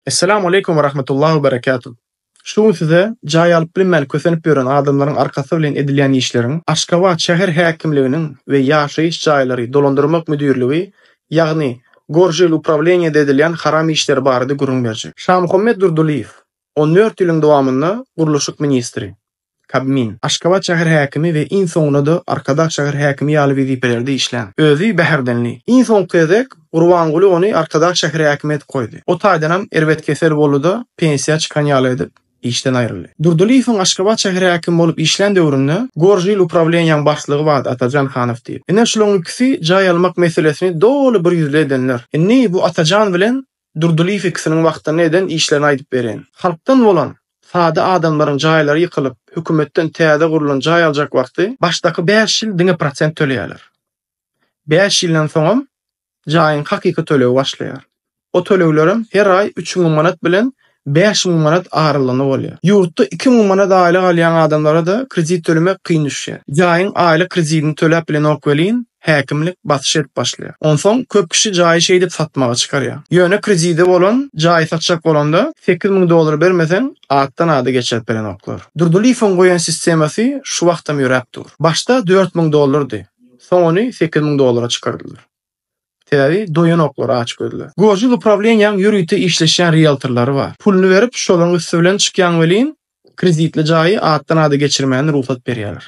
Essalamu Aleýkum we Rahmetullah we Berekatuh. Şu gün size jaý alyp bilmän kösenip ýören adamlaryň arkasy bilen edilýän işleriň Aşgabat şäher häkimliginiň we ýaşaýyş jaýlary dolandyrmak müdirligi ýagny Gorželuprawleniýede edilýän haram işleri barada gürrüň berjek. Şamuhammet Durdylyýew, on dört ýylyň dowamynda gurluşyk ministri. Kabmin, Aşgabat şäher häkimi we iň soňunda-da Arkadag şäher häkimi ýaly wezipelerde işlän. Özi Bäherdenli. Iň soňky gezek Gurbanguly ony Arkadag şäher häkimi edip goýdy. O taýdanam erbet kesel boldy-da, pensiýa çykan ýaly edip, işden aýryldy. Durdylyýewiň Aşgabat şäher häkimi bolup işlän döwründe Gorjil uprawleniýaň başlygy bardy Atajan Hanow diýip. Ine, şulaň ikisi jaý almak meselesini doly birýüzli edenler. Indi bu Atajan bilen Durdylyýew ikisiniň wagtynda eden işlerini aýdyp berýin. Halkdan bolan sada adamlaryň jaýlary ýykylyp, hökümetden täze gurlan jaý aljak wagty başdaky bäş ýyl diňe prosent töleýärler. Bäş ýyldan soňam jaýyň hakyky tölegi başlaýar. O töleglerem her aý üç müň manat bilen bäş müň manat aralygynda bolýar. Ýurtda iki müň manat aýlyk alýan adamlara-da kredit tölemek kyn düşýär. Jaýyň aýlyk kredidini töläp bilenok welin, häkimlik basyş edip başlaýar. Onsoň köp kişi jaýy şeýdip satmaga çykarýar. Ýöne kredidi bolan jaýy satjak bolanda, sekiz müň dollar bermeseň, atdan-ada geçirip berenoklar. Durdylyýewiň goýan sistemasy şu wagtam ýöräp dur. Başda dört müň dollardy. Soň ony sekiz müň dollara çykardylar. Sebäbi doýanoklar açgözler. Görjil uprawleniýäň ýörite işleşýän rieltorlary bar. Puluny berip şolaryň üsti bilen çykýaň welin kreditli jaýy atdan ada geçirmäne rugsat berýäler.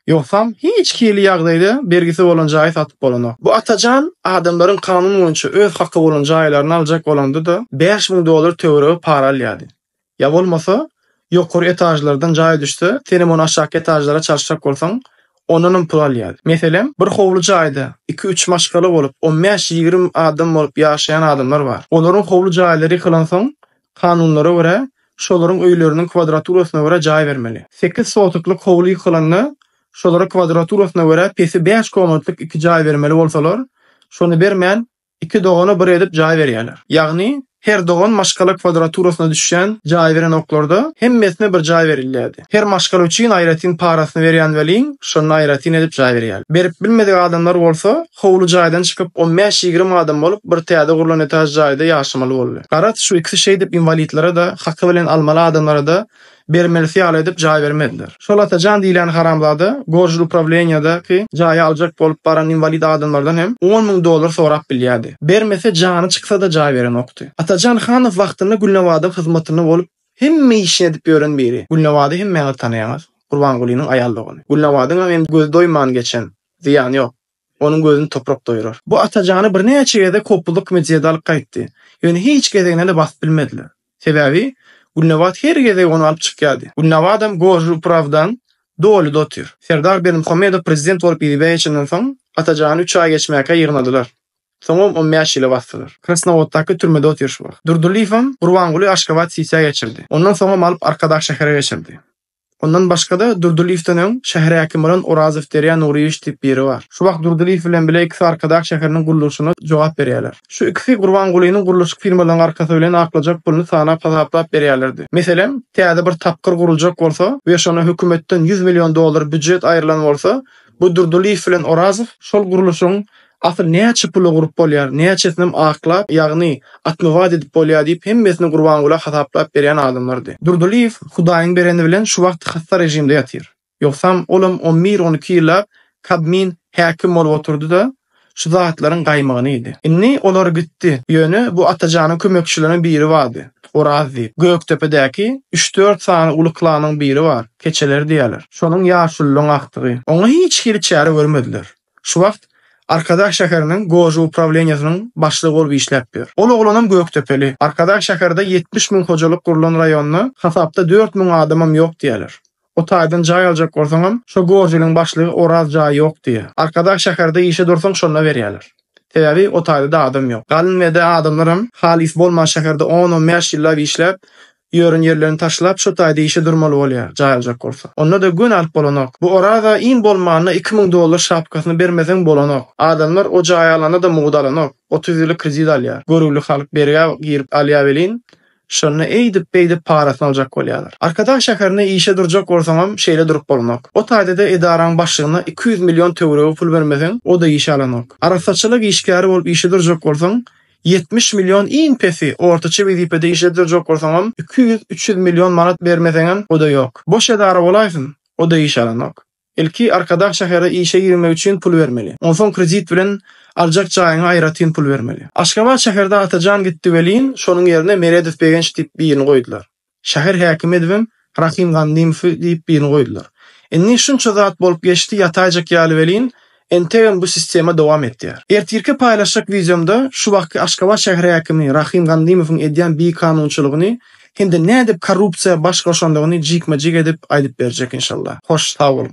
Ýogsam hiç hili ýagdaýda bergisi bolan jaýy satyp bolanok. Bu Atajan adamlaryň kanun boýunça öz haky bolan jaýlaryny aljak bolanda-da bäş müň dollar töweregi para alýardy. Ýa bolmasa, ýokary etažlardan jaý düşse, senem ony aşaky etažlara çalşjak bolsaň, ondanam pul alýar. Meselem, bir howly jaýda iki-üç maşgala bolup, on bäş-ýigrimi adam bolup ýaşaýan adamlar bar. Olaryň howly jaýlary ýykylansoň, kanunlara görä, şolaryň öýleriniň kwadraturasyna görä jaý bermeli. Sekiz sotiklik howly ýykylanda, şolara kwadraturasyna görä pesi bäş komnatlyk iki jaý bermeli bolsalar, şony bermän, Iki dogana bir edip jaý berýärler. Ýagny, her dogan maşgala kwadraturasyna düşýän jaý beren oklarda hemmesine bir jaý berilýärdi. Her maşgala üçin aýratyn parasyny berýän welin, şonda aýratyn edip jaý berýärler. Berip bilmedik adamlar bolsa, howly jaýdan çykyp, on bäş-ýigrimi adam bolup, bir täze gurlan etaž jaýda ýaşamaly boldy. Garaz, şu ikisi şeýdip inwalidlere-de, haky bilen almaly adamlara-da Bermelisi ýaly edip jaý bermediler. Şol Atajan diýlen haramzada Gorjul uprawleniýadaky jaýy aljak bolup baran inwalid adamlardan hem on müň dollar sorap bilýärdi. Bermese jany çyksa-da jaý berenokdy. Atajan Hanow wagtynda Gülnabadyň hyzmatynda bolup hemme işini edip ýören biri. Gülnabady hemmäňiz tanaýaňyz. Gurbangulynyň aýal dogany. Gülnabadyňam hem gözi doýman geçen. Zyýany ýok. Onuň gözüni toprak doýrar. Bu Atajany birnäçe gezek hopbuzlyk kimin jeda alyp gaýtdy. Ýöne hiç gezeginde-de basyp bilmediler. Sebäbi Gülnabat her gezek ony alyp çykýardy. Gülnabatam gorjy uprawdan dolyda otyr. Serdar Berdimuhamedow prezident bolup yzybeý geçenden soň, Atajany üç aý geçmäkä ýygnadylar. Soňam on bäş ýyla basdylar. Krasnowoddaky türmede otyr şu wagt. Durdylyýewem Gurbanguly Aşgabat sisiýa geçirdi. Ondan soňam alyp Arkadag şähere geçirdi. Ondan başga-da, Durdylyýewden öň şäher häkimi bolan Orazow Derýa Nuryýewiç diýip biri bar. Şu wagt Durdylyýew bilen bile ikisi Arkadag şäheriniň gurluşyna jogap berýärler. Şu ikisi Gurbangulynyň gurluşyk firmalaryň arkasy bilen aklajak puluny sanap-hasaplap berýärlerdi. Meselem, täze bir tapgyr guruljak bolsa we şona hökümetden ýüz million dollar býujet aýrylan bolsa, bu Durdylyýew bilen Orazow şol gurluşygyň Asyl näçe pula gurup bolýar, näçesinem aklap, ýagny atmywat edip bolýar diýip, hemmesini Gurbangula hasaplap berýän adamlardy. Durdylyýew Hudaýyň bereni bilen şu wagt hassa režimde ýatyr. Ýogsam, olam on bir, on iki ýyllap Kabmin häkim bolup oturdy-da, şu zatlaryň gaýmygyny iýdi. Indi olar gitdi. Ýöne bu Atajanyň kömekçileriniň biri bardy, Oraz diýip. Gökdepedäki üç-dört sany uly klanyň biri bar, Keçeler diýýärler. Şonuň ýaşulylygyň agtygy. Oňa hiç hili çäre görmediler. Şu wagt Arkadag şäheriniň Goža uprawleniýesiniň başlygy bolup işläp ýör. Ol oglanam gökdepeli. Arkadag şäherde ýetmiş müň hojalyk gurlan raýonda hasapda dört müň adamam ýok diýýärler. O taýdan jaý aljak bolsaňam, şo Gožiliň başlygy Oraz jaý ýok diýýär. Arkadag şäherde işe dursaň şonda berýärler. Sebäbi o taýda-da adam ýok. Galyn we-de adamlaram halys bolman şäherde on-on bäş ýyllap işläp, Ýörün ýerlerini taşlap şo taýda işe durmaly bolýar, jaý aljak bolsa. Onda-da göni alyp bolanok. Bu Oraza iň bolmanda iki müň dollar şapkasyny bermeseň bolanok. Adamlar o jaýy alanda-da mugt alanok. Otuz ýyly kredit alýar. Görüwli halk bergä girip alýar welin, şonda eýdip-beýdip parasyny aljak bolýarlar. Arkadag şäherinde işe durjak bolsaňam şeýle durup bolanok. O taýda-da edaraň başlygyna iki ýüz million töweregi pul bermeseň, o-da işe alanok. Arassaçylyk işgäri bolup işe durjak bolsaň, Ýetmiş million iň pesi, ortaça wezipede işledir jokursaňam iki ýüz, üç ýüz million manat bermeseňem oda ýok. Boş edara bolaýsyn, oda iş alanok. Ilki Arkadag şähere işe girmek üçin pul bermeli. Onsoň kredit bilen aljak jaýyňa aýratyn pul bermeli. Aşgabat şäherde Atajan gitdi welin, şonuň ýerine Meredow Begenç diýip birini goýdular. Şäher häkimi edibem Rahym Gandymowy diýip birini goýdular. Indi şunça zat bolup geçdi ýataýjak ýaly welin, entegem bu sistema dowam etýär. Ertirki paýlaşjak wideomda şu wagtky Aşgabat şäher häkimi Rahym Gandymowyň edýän bikanunçylygyny hem-de nädip korrupsiýa baş goşandygyny jikme-jik edip aýdyp berjek inşallah. Hoş sag boluň.